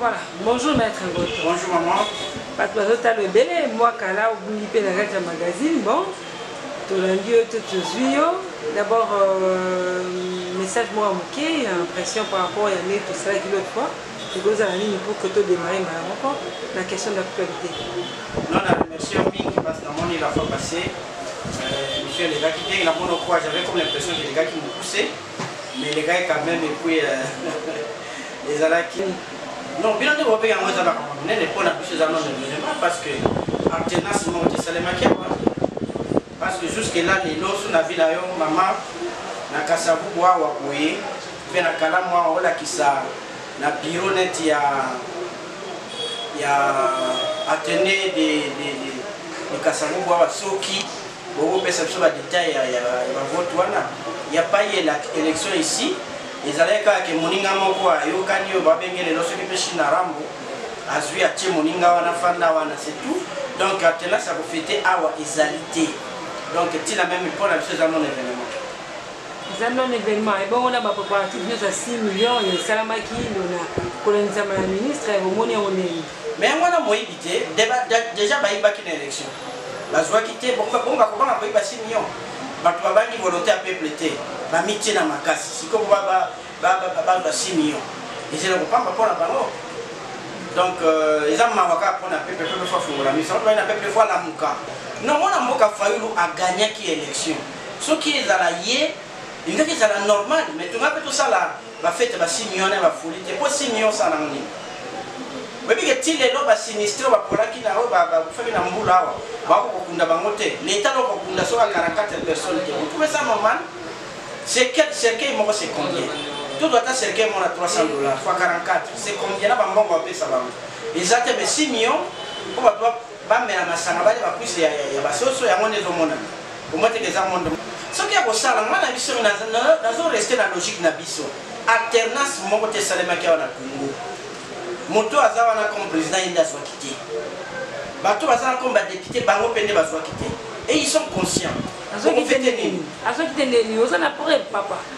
Voilà, bonjour maître Ngoto. Bonjour maman. Bato bazotala ebele mwa kala obungi mpe na kati ya magazine bon tolandi yo to tozwi yo d'abord euh, message moko ya moke ya impression par rapport ya ndenge tosalaki l'autre fois ekozala nini pour que todémarre mbala moko na question d'actualité non na remercie mingi parce que namoni la fois passé euh, monsieur alekaki ndenge namoni okwa j'avais comme l'impression que elekaki mokuse mais les gars quand même et puis euh, ezalaki non bino nde bobenga yango eza makambo monene mpo na biso eza non événement parce que alternance moko tesalemaki awa parce que jusque là lelo so na vi na yo mama na kasavubu awa boye mpe na kalamu awa olakisa na biro neti ya ya atene de, de, de, de kasavubu awa soki Boko pesa biso ba details ya ya ba vote wana. Il n'y a pas eu l'élection ici. Ezalaki kaka ke moninga moko ayokani oyo babenge lelo soki mpe Shina Rambo azwi atie moninga wana fanda wana c'est tout. Donc atela sa kofete awa ezali te. Donc tina meme mpo na biso eza mon événement. eza non événement ebongo na bapréparatif nyonso ya 6 million esalamaki lona kolendisama ya ministre omoni yango ndenge Mais yango wana moyibi te deja bayibaki na election bazuaki te bongo bakobanga koyiba simion bato babangi volonté ya peuple te bamitie na makasi sikoyo bazwa simion ezela kopamba mpo na bango donc euh, eza mawa kaka mpo na peuple peuple fo afungola miso bayi na peuple fo alamuka non mwana mboka fayulu agagnaki election soki ezala ye elingaki ezala normal mais tonga mpe tosala Ba fete ba signe wana ba folie te po signe yo sana nini oyebi ke ti lelo ba sinistre oyo bapolaki na oyo bakufaki na mbula awa bako kokunda bango te leta loko kokunda soka 44 personne te vous trouvez ça normal c'est quel cercueil moko c'est combien tout ata cercueil moko na 300 dollars fois 44 c'est combien na bambongo bapesa bango eza te mais si million po bato Bamela masanga balia ba cuisse ya, ya, ya basoso yango nde ezomonana. Omonteke eza monde soki ya kosala nga na biso nazo reste na logique na biso alternance moko te esalemaki awa na Congo. Moto aza wana comme président ye nde azwaki te. Bato baza na comme ba député bango mpe nde bazwaki te. Et ils sont conscients. Azwaki te nini? Azwaki te nini? Oza na preuve papa?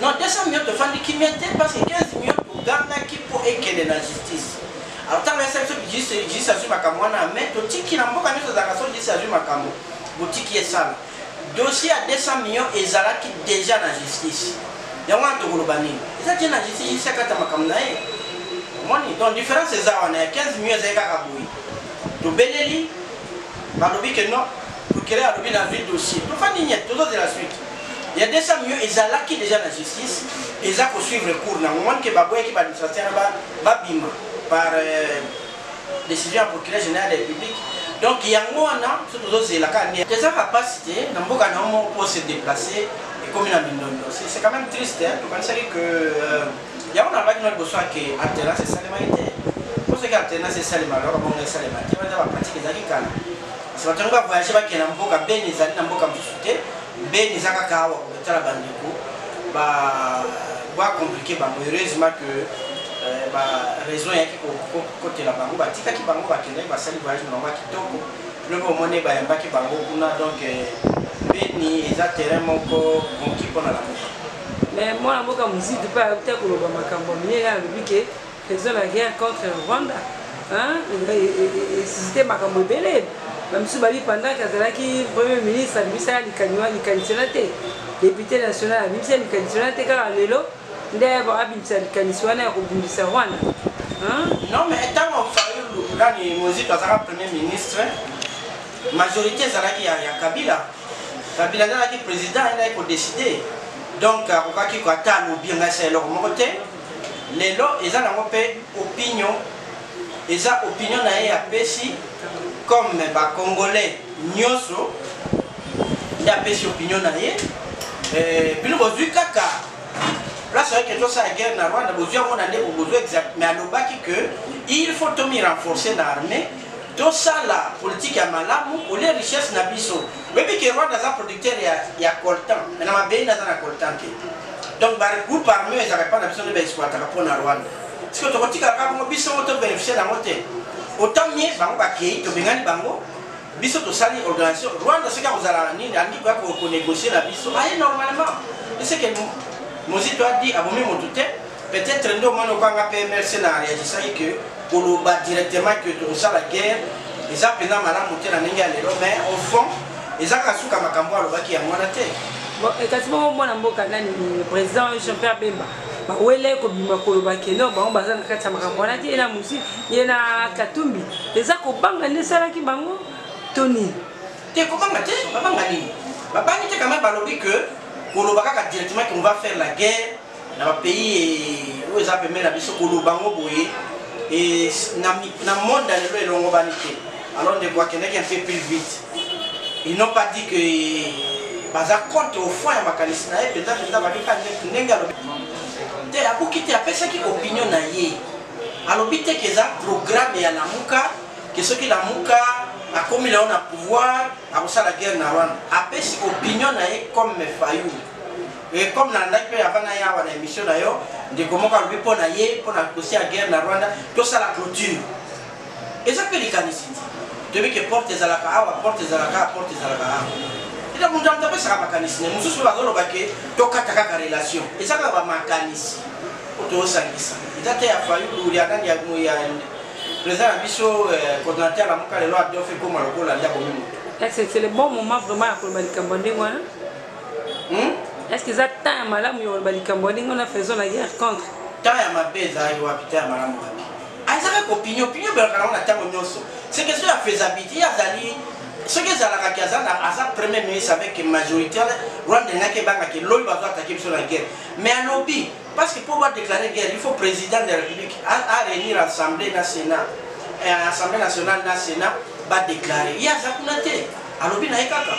Non 200 millions tofandi kimia te parce que 15 millions togangaki mpo ekende na justice. Alors ntango yasa biso justice justice azwi makambo wana ya mai totiki na mboka nyonso ezalaka so justice azwi makambo botiki esala. Dossier ya 200 millions ezalaki déjà na justice. Yango wana tokoloba nini? Eza tie na justice justice akata makambo na ye. Omoni? Donc différence eza wana ya 15 millions ezali kaka boye. Tobeleli balobi que non procureur alobi nazwi dossier. Tofandi nyete tozozela suite. ya 200 millions ezalaki deja na justice eza ko suivre cours nango moni ke baboyaki ba administrateur na babima par euh, décision ya procureur général de la république donc yango wana so tozozela kaka nde eza kapasi te na mboka na yo moko mpo se déplacer ekomi na mindondo c'est quand même triste tokanisaki que euh, yango nalobaki na liboso ake alternance esalemaki te mpo soki alternance esalema loko bongo esalema te wana eza bapratique ezalaki kala Kasi bato yango ba voyage bakende na mboka Beni, ezali na mboka mosusu te. Beni eza kaka awa kotala bandeko ba ba compliquer bango heureusement que euh, ba raison yaki kokotela bango batikaki bango bakendaki basali voyage na bango ya kitoko lobi omoni bayambaki bango kuna donc euh, beni eza terrain moko moki mpo na lamuka mais mwana mboka mozidi mpe ayaki te koloba makambo ya minene alobi ke Eza la guerre contre Rwanda esisite makambo ebele bamisusu babi pendant ke azalaki premier ministre abimisa ya likaniwa likanisi wana te depute national abimisa likanisi wana te kaka lelo nde abimisa likanisi wana ya kobundisa rwanda non mais ntango fayulu nani mozito azalaka premier ministre majorité ezalaki ya, ya kabila kabila nde azalaki président ayendaki kodeside donc akokaki ata alobi ngai sa eloko moko te Lelo eza nango pe opinion eza opinion naye apesi comme ba congolais nioso nde apesi opinion naye euh, bino bozui kaka place oyeke tosala guerre na rwanda bozwi yango na ndeko bozwi exact mais alobaki que il faut tomi renforcer na armée tosala politike ya malamu olie richesse na biso oyebi ke rwanda aza producteur ya, ya coltan me na mabei naza na coltan te donc ba groupe armé ezalaka epai na biso nde baexploitaka mpo na rwanda siko tokotikala kaka bongo biso moko tobénéficie nango te autant mieux bango bakei tobengani bango biso tosali organisation rwanda soki akozala nini alingi koya konegocie na biso aye normalement eseke mozito adi abomi motu te Peut-être nde omoni okanga pe MLC na reagisaki que koloba directement que tokosala guerre eza mpenza malamu te na ndenge ya lelo mais au fond eza kasuka makambo alobaki yango wana te eh, kasi bongo mwana mboka nani président jean pierre bemba bawele kobima koloba keno bango baza na kati ya makambo wana te ye na mosi ye na katumbi eza kobanga nde esalaki bango to nini te kobanga te babanga nini babangi te kama balobi ke koloba kaka directement qu'on va faire la guerre na ba pays eh, oyo eza pembeni na biso koloba yango boye eh, na monde ya lelo elongobani te alors ndeko akendaki un peu plus vite ils n'ont pas dit que eh, baza contre au fond ya makanisi na ye mpenza mpenza babika ndenge alobi te abuki te apesaki opinion na ye alobi te ke eza programme ya lamuka ke soki lamuka akomi na yo na pouvoir akosala guerre na rwanda apesi opinion na ye comme fayulu Et comme nalandaki mpe avant na yawa na émission na yo ndeko moko alobi mpo na ye mpo na dossier ya guerre na rwanda tosala clôture eza mpe likanisi ti toyebi ke porte ezalaka awa porte ezalaka awa porte ezalaka awa ete moto ya moto apesaka makanisi ne mosusu mpe bazoloba ke tokata kaka relation eza kaka bamakanisi oyo tozosangisa eza te ya fayulu ya nani ya président na biso euh, coordinateur na moka lelo adofe ekoma lokola nde akomi moto c'est le bon moment vraiment ya koloba likambo ya ndenge wana hmm? est ce que eza temps ya malamu ya koloba likambo ya ndenge wana faison na guerre contre temps ya mabe ezalaki wapi temps ya malamu wapi azalaki kopinio pinio ebelaka nango na ntango nyonso se question ya faisabilité ye azali soki ezalaka ke aza aza premier ministre avec majorité rwanda elingaki ebangaka elobi bazo atake biso na guerre mais alobi parce que mpo badéclare guerre il faut président de la république aréunir assemblée na sénat eh, assemblée nationale na sénat badéclare ye aza kuna te alobi na ye kaka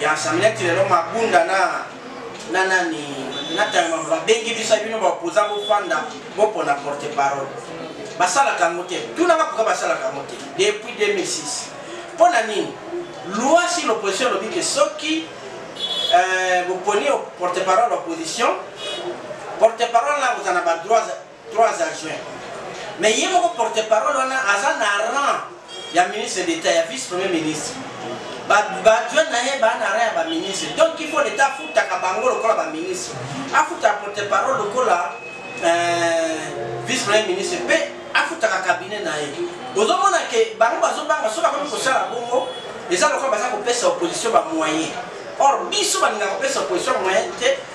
Ya Samia ti lelo mabunda na na nani na tayama babengi biso bino ba opposant bofanda bopona porte parole basalaka yango te tunaka pourka basalaka yango te depuis 2006 mpo na nini loi si l'opposition elobi ke soki euh, boponi porte parole opposition porte parole na kozala na badroit Trois adjoints. Mais ye moko porte parole wana aza na rang ya ministre d'etat ya vice premier ministre. Ba ba adjoint na ye ba na rang ya ba ministre. Donc il faut l'etat afutaka bango lokola ba ministre. Afuta porte parole lokola euh, vice premier ministre pe afutaka cabinet na ye. Ozomona ke bango bazobanga soki akomi kosala bongo eza lokola baza kopesa opposition ba moyen or biso balingaka kopesa opposition moyen te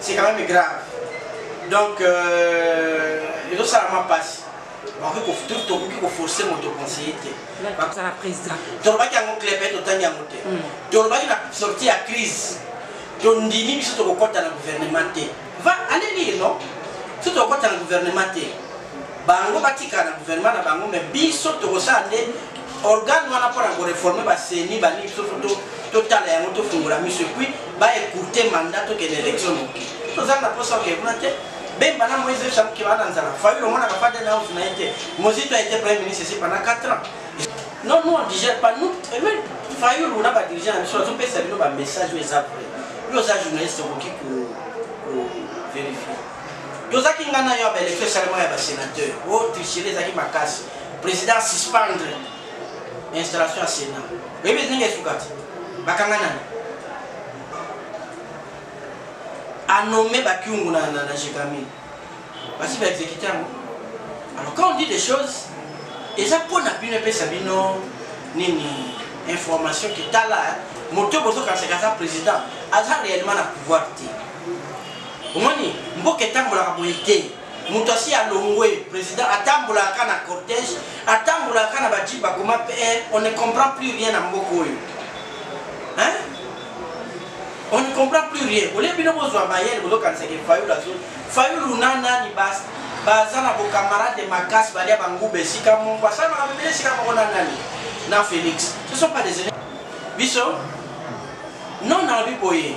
c'est quand même grave donc euh, ezosalama mpasi tokoki koforce moto conseiller te kozala président tolobaki yango clebe totangi yango te hmm. tolobaki na sorti ya crise tondimi biso tokokɔta na gouvernement te va ale lire non biso tokokɔta na gouvernement te bango batikala na gouvernement na bango me biso tokosala nde organe wana mpo na koreforme baseni balingi biso to totala yango tofungola miso epuis baecourte mandat tokende élection noki tozanga mposa oke kuna te bemba na moise esamuke baa na nzala fayulu omonaka pas de house na ye te mozito a été premier ministre esi pendant 4 ans non nous on digère pas nous et même fayulu na badirigeant na biso azopesa bino bamessage oyo eza vrai yo oza journaliste okoki ko verifie tozaki nga na yo ya baelektio esalema ya basenateur o oh, trichere ezalaki makasi président suspendre installation ya sénat oyebi ndenge esuka te bakanga nani anome bakiungu na, na, na jekami basi baexekite yango alors quand on dit des choses eza mpo na bino epesa bino nini information ke tala moto bozokanisaka aza président aza réellement na pouvoir te omoni mboka etambolaka boye te moto asi alongwe président atambolaka na cortège atambolaka na baji bakoma pr on ne comprend plus rien na mboka oyo hein on ne comprend plus rien olie bino bozwa mayele bozokanisaka fayulu azo fayulu na nani bas baza na bocamarade makasi balia banguba esika moko asala makambo ebele esika moko na nani na félix ce sont pas des biso non nalobi boye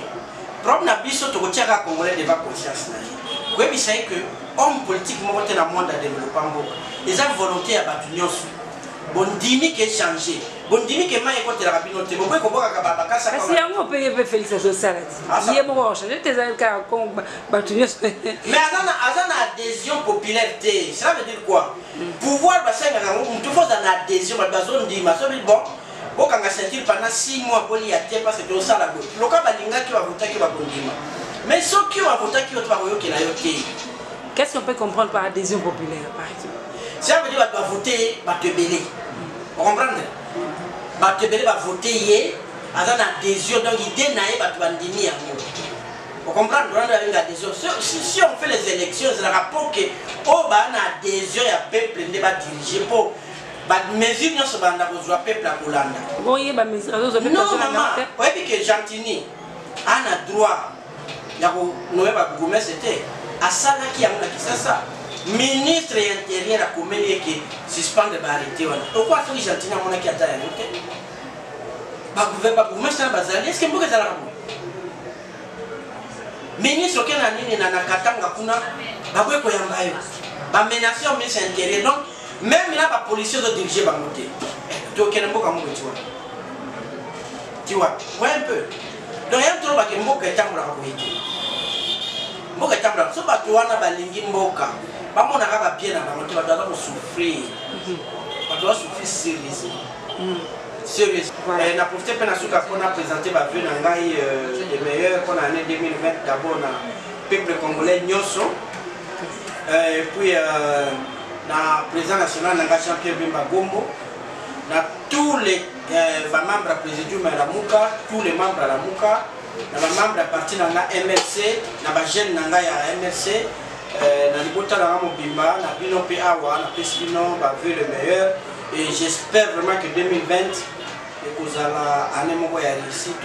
Problème na biso tokotia kaka congolais devant conscience na ye koyebisa ye que homme politique moko te na monde adevelopa mboka eza volonté ya bato nyonso bondimi ke change bondimi ke mai ekotelaka bino te bokoki kobwakaka babakasa kasi yango mpe ye mpe félix azosala ti ye moko achange te ezali kaka ko bato nyonso mais aza na adhésion populaire te cela veut dire quoi pouvoir basengaka yango motu fo oza na adhésion bato bazondima sobi bon Bokanga ceinture pendant 6 mois bolia te parce que osala boye. Loka balingaki ba votaki ba kondima. Mais soki ba votaki yo te ba koyokela yo te. Qu'est-ce qu'on peut comprendre par adhésion populaire par exemple? Ça veut dire ba voter ba tebele. Vous comprenez? Ba tebele ba voter ye aza na adhésion donc idée na ye ba bandimi yango. Vous comprenez? On a une adhésion. Si, si on fait les élections, c'est la rapport que au oh, ba na adhésion ya peuple ne ba diriger pour ba mesure nyonso balanda kozwa peuple akolanda boye ba mesure azozwa peuple non mama oyebi ke gentini ana droit ya konome ba bourgmestre te asalaki yango na kisasa ministre ya interieur akomeli eke suspendre ba arrete wana okwa soki gentini amonaki ata yango te babourgmestre wana bazali eske mboka ezalaka boye ministre oke na nini na katanga kuna bakoki koyamba yo bamenace yo ministre ya interieur donc meme na ba policiers ozo diriger bango te tokende mboka moko eti wana ti wapi voye un peu donc ya toloba ke mboka etambolaka boye te mboka etambolaka so bato wana balingi mboka bamonaka babie na bango te bato baza kosouffrir mhm. bato basouffrir serieusement mhm. sérieuse voilà. eh, na profite mpe nasuka mpo na présente bavue na ngai euh, de meilleur mpo na année 2020 d'abord na peuple congolais nyonso euh, et puis euh, na président national na nga Jean-Pierre Bemba Gombo na tous les euh, ba membres ya présidium ya Lamuka tous les membres ya Lamuka na ba membres ya parti na nga MLC na ba jeunes na nga ya MLC euh, na libota na nga mobimba na bino mpe awa napesi bino ba vœux le meilleur et j'espère vraiment que 2020 ekozala année moko ya réussite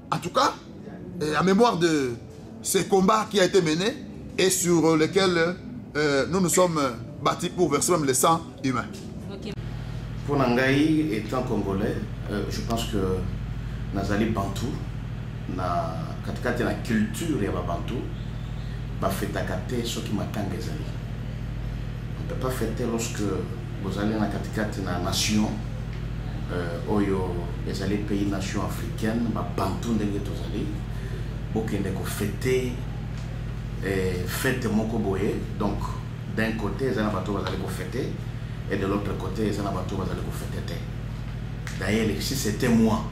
En tout cas, euh, en mémoire de ce combat qui a été mené et sur lequel euh, nous nous sommes bâtis pour verser même le sang humain. Okay. Pour Nangaï, étant congolais, euh, je pense que nazali bantou, na katikati na culture ya babantou, bafetaka te soki matanga ezali. On ne peut pas fêter lorsque Bozali na katikati na nation euh, oyo ezali pays nation africaine babantu ndenge tozali bokende kofete eh, fete moko boye donc d'un côté eza na bato oyo bazali kofete et de l'autre côté eza na bato oyo bazali kofete te d'ailleurs si c'était moi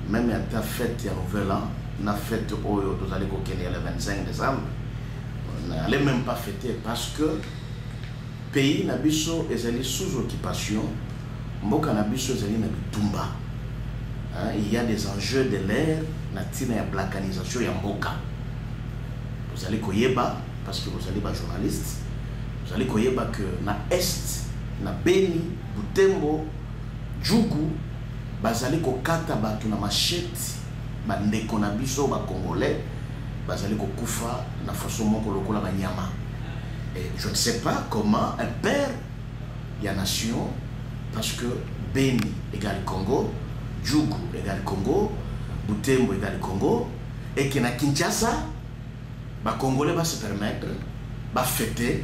même ata fete ya nouvel an na fete oyo tozali kokende ya le 25 décembre n'allais même pas fêter parce que Pays na biso ezali sous occupation, mboka na biso ezali na bitumba. Hein, il y a des enjeux de l'air na tina ya balkanisation ya mboka. Vous allez koyeba parce que vous allez ba journaliste. Vous allez koyeba que na est na Beni, Butembo, Djugu bazali kokata bato na machete Ba ndeko na biso ba congolais bazali kokufa na façon moko lokola banyama. Et je ne sais pas comment un père ya nation parce que Beni égale Congo, Djugu égale Congo, Butembo égale Congo et que na Kinshasa Ba congolais ba se permettre ba fete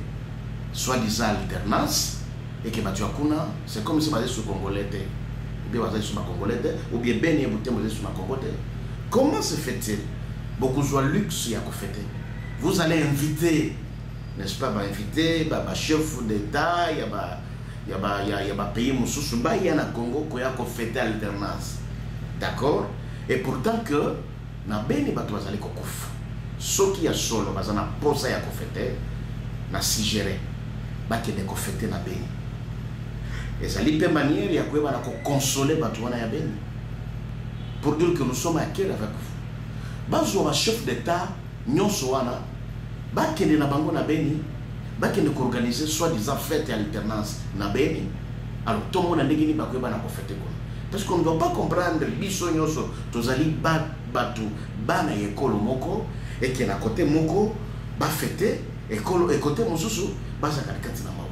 soit disant alternance et que batu ya kuna c'est comme si bazali su congolais te ou bien bazali su ba congolais te ou bien beni ye butembo ezali su na congo te comment se fait-il bokozwa luxe ya kofete vous allez inviter n'est-ce pas ba inviter ba, ba chef d'état ya ba ya ba ya, ya ba pays mosusu baya na congo koya kofete alternance d'accord et pourtant que Na Beni batu bazali kokufa. Soki ya solo baza na posa ya ko feter, na suggerer bakende ko feter na Beni. Ezali pe maniere ya koyeba na ko consoler batu wana ya Beni pour dire que nous sommes à quel avec vous. Bazwa ba chef d'Etat nyonso wana bakende na bango na Beni, bakende ko organiser soit disant fete ya alternance na Beni. Alors tomona ndenge nini bakoyeba na ko fete kuna. Parce qu'on ne doit pas comprendre biso nyonso tozali ba bato bana ya ekolo moko eke na kote moko bafete ekolo ekote mosusu bazalaka kati na mawa